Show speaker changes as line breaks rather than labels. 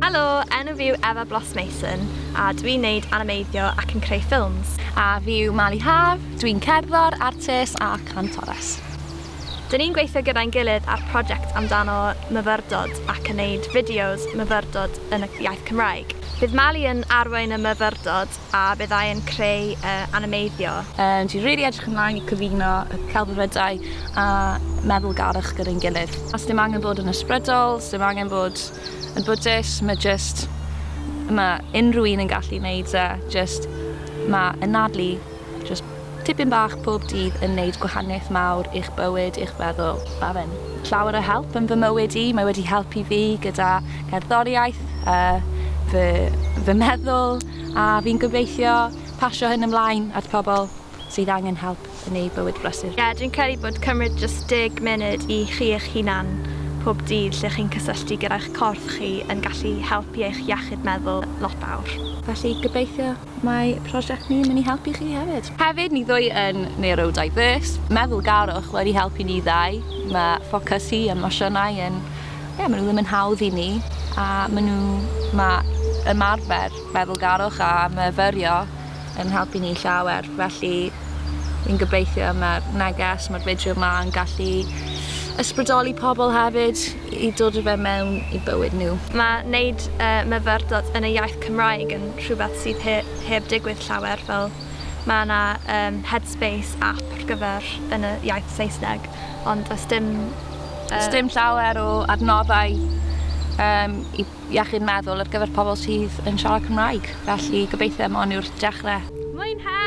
Helo, enw fi yw Efa Bloss Mason a dwi'n neud animeiddio ac yn creu ffilms. A fi yw Mali
Haf, dwi'n cerddor, artist a cantores. Dyn
ni'n gweithio gyda'n gilydd ar project amdano myfyrdod ac yn neud fideos myfyrdod yn y iaith Cymraeg. Bydd Mali yn arwain y myfyrdod a byddai yn creu y animeiddio. Dw i rili
edrych ymlaen i cyfuno y celfyddydau a meddwlgarwch gyda'n gilydd. Does dim angen bod yn ysbrydol, does dim angen bod yn Buddist, mae jyst, mae unrhyw un yn gallu neud e, jyst mae anadlu jyst tipyn bach pob dydd yn neud gwahaniaeth mawr i'ch bywyd, i'ch feddwl. Mae fe'n llawer o help yn fy mywyd i, mae wedi helpu fi gyda cerddoriaeth, fy meddwl. a fi'n gobeithio pasio hyn ymlaen at pobl sydd angen help yn eu bywyd brysur. Ie, dwi'n credu bod cymryd
jyst deg munud i chi eich hunan pob dydd lle chi'n cysylltu gyda'ch corff chi yn gallu helpu eich iechyd meddwl lot fawr. Felly gobeithio
mae prosiect ni yn mynd i helpu chi hefyd. Hefyd, ni ddwy yn neurodiverse, meddwl garwch wedi helpu ni ddau, mae ffocys hi yn emosiynau yn Ie, ma' nw ddim yn hawdd i ni a ma' nw... Ma' ymarfer meddwlgarwch a myfyrio yn helpu ni llawer felly fi'n gobeithio ma'r neges ma'r fideo 'ma yn gallu ysbrydoli pobol hefyd i dod â fe mewn i bywyd nhw. Ma' neud
y myfyrdod yn y iaith Cymraeg yn rhywbeth sydd he- heb digwydd llawer fel ma' 'na yym Headspace ap ar gyfer yn y iaith Saesneg ond does dim Does dim
llawer o adnoddau um, i iechyd meddwl ar gyfer pobl sydd yn siarad Cymraeg,
felly
gobeithio am hon yw'r dechrau. Mwynhewch!